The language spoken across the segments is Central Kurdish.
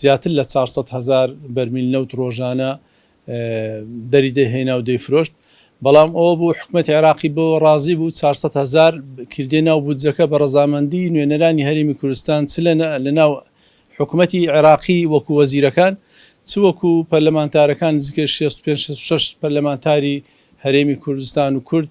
زیاتر لە چوار سەد هەزار بەرمیل نەوت رۆژانە دەریدەهێنا و دەیفرۆشت، بەڵام ئەوە بوو حکومەتی عێراقی بەوە رازی بوو چوار سەد هەزار کردیە ناو بودجەکە بە رەزامەندی نوێنەرانی هەرێمی کوردستان چ لە ناو حکومەتی عێراقی وەکو وەزیرەکان چ وەکو پەرلەمانتارەکان نزیکەی شێست و پێنج شێست و شەش پەرلەمانتاری هەرێمی کوردستان و کورد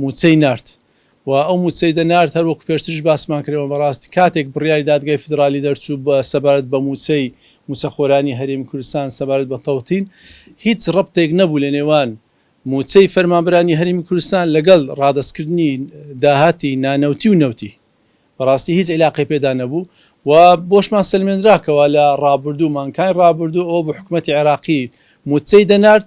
مووچەی نارد و ئەو مووچەی دەنارد، هەر وەکو پێشتریش باسمان کردەوە، بەڕاستی کاتێک بڕیاری دادگای فیدرالی دەرچوو بە سەبارەت بە مووچەی مووچەخۆرانی هەرێمی کوردستان سەبارەت بە تەوتین، هیچ ڕەبتێک نەبوو لە نێوان مووچەی فەرمانبەرانی هەرێمی کوردستان لەگەڵ ڕادەستکردنی داهاتی نانەوتی و نەوتی، بەڕاستی هیچ ئیلاقەی پێدا نەبوو و بۆشمان سەلمێنرا کەوا لە ڕابردوو، مانکانی ڕابردوو ئەوە بوو حکومەتی عێراقی مووچەی دەنارد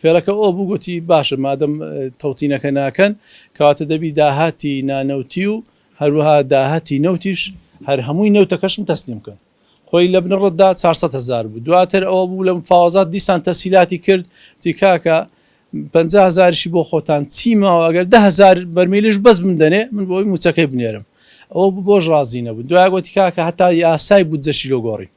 فێڵەکە ئۆ بوو گۆتی، باشە مادەم تەوتینەکە ناکەن، کەواتە دەبی داهاتی نانەوتی و هەروەها داهاتی نەوتیش هەر هەمووی نەوتەکەشم تەسلیم بکەن. خۆی لە بنەڕەتدا چوار سەد هەزار بوو. دواتر ئەوە بوو لە مفاوەزات دیسان تەسهیلاتی کرد، گۆتی، کاکە پەنجا هەزاریشی بۆ خۆتان چی ماوە ئەگەر دە هەزار بەرمیلیش بەس بمدەنێ من بۆی مووچەکەی بنێرم. ئەوە بۆش ڕازی نەبوو. دوای گۆتی، کاکە هەتا یاسای بودجەشی لۆ گۆڕین.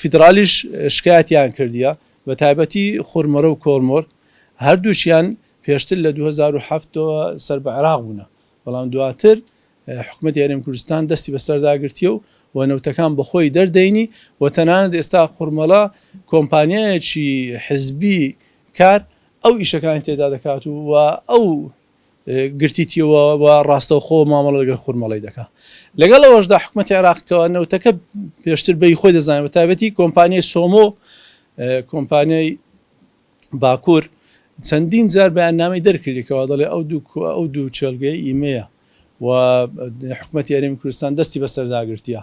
فیدرالیش شکایەتیان کردیە بە تایبەتی خورمرە و کۆرمۆر هەردووکیان پێشتر لە دوو هەزار و حەفت ەوە سەر بە عێراق بوونە بەڵام دواتر حکومەتی هەرێم کوردستان دەستی بەسەردا گرتیە و و نەوتەکان بەخۆی دەردەینی و تەنانەت ئێستا خورمەڵە کۆمپانیایەکی حزبی کار ئەو ئیشەکانی تێدا دەکات و و ئەو گرتیتیەوە و ڕاستەوخۆ مامەڵە لەگەر خورمەڵی دەکات لەگەڵ ئەوەشدا حکوومەتی عێراق کەەوە نەوتەکە پێشتر بەی خۆی دەزانێت بە تابەتی کۆمپانیای سۆمۆ کۆمپانیای باکوور چەندین جار بەیاننامەی دەرکردێکەوە دەڵێ ئەو دوو ئەو دوو چێلگەی ئیمەیە و حکوومەت یاریمی کوردستان دەستی بەسەرداگرتیە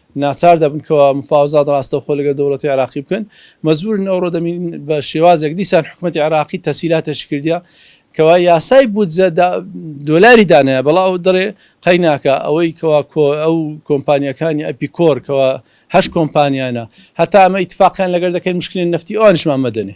ناچار دەبن کەوا مفاوزات ڕاستەوخۆ لەگەل دەوڵەتی عێراقی بکەن مەجبورن ئەوڕۆ دەمین بە شێوازێک دیسان حکومەتی عێراقی تەسیلاتەشی کردیە کەوا یاسای بودجە دا دۆلاری دانایە بەڵا ئەو دەڵێ قەیناکە ئەوەی کەوا کۆ ئەو کۆمپانیەکانی ئەپی کۆر کەوا هەشت کۆمپانیانە هەتا ئەمە ئیتفاقیان لەگەر دەکەین مشکلین نەفتی ئەوانیشمان مەدەنێ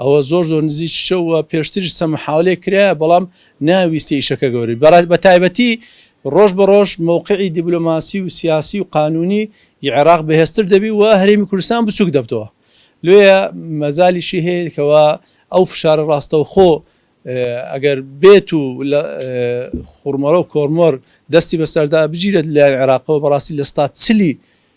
ئەوە زۆر زۆر نزیکی شەو و پێشتریش چەند محاولەیەک کرایە بەڵام نەیانویست ئیشەکە گەورەبی بەڕای بەتایبەتی ڕۆژ بە ڕۆژ مەوقعی دیبلۆماسی و سیاسی و قانونی ی عێراق بەهێزتر دەبی و هەرێمی کوردستان بچوک دەبتەوە لۆیە مەجالیشی هەیە کەوا ئەو فشارە ڕاستەوخۆ ئەگەر بێت و لە خورمەڕۆ کۆرمۆر دەستی بەسەردا بگیرێت لەلایەن عێراقەوە بەڕاستی لە ستا چلی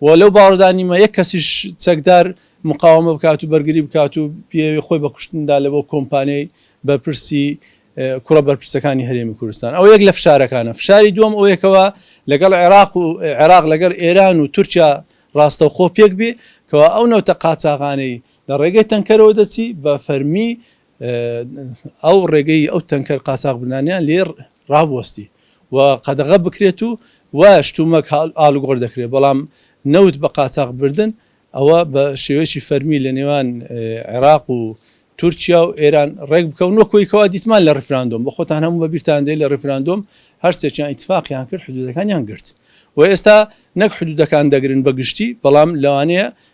و لەو باوەڕدا نیمە یەک کەسیش چەکدار مقاوەمە بکات و بەرگری بکات و بیەوێ خۆی بە کوشتن بدا لەبۆ کۆمپانیای بەرپرسی کوڕە بەرپرسەکانی هەرێمی کوردستان ئەوە یەک لە فشارەکانە فشاری دووەم ئەوەیە کەوا لەگەڵ عێراق و عێراق لەگەڵ ئێران و تورکیا ڕاستەوخۆ پێک بێ کەوا ئەو نەوتە قاچاغانەی لە ڕێگەی تەنکەرەوە دەچی بە فەرمی ئەو ڕێگەی ئەو تەنکەر قاچاخبرانیان لێ ڕابوەستی و قەدەغە بکرێت و وا شتومەک ئالوگۆر دەکرێت بەڵام نەوت بە قاچاخ بردن ئەوە بە شێوەیەکی فەرمی لە نێوان عێراق و تورکیا و ئێران ڕێک بکەون وەکۆی کەوا دیتمان لە ڕفراندۆم بە خۆتان هەموو بەبییران دێ لە ڕفراندۆم هەرسێکیان ئیتفاقیان کرد حدودەکانیان گرت و ئێستا نەک حدودەکان دەگرن بە گشتی بەڵام لەوانەیە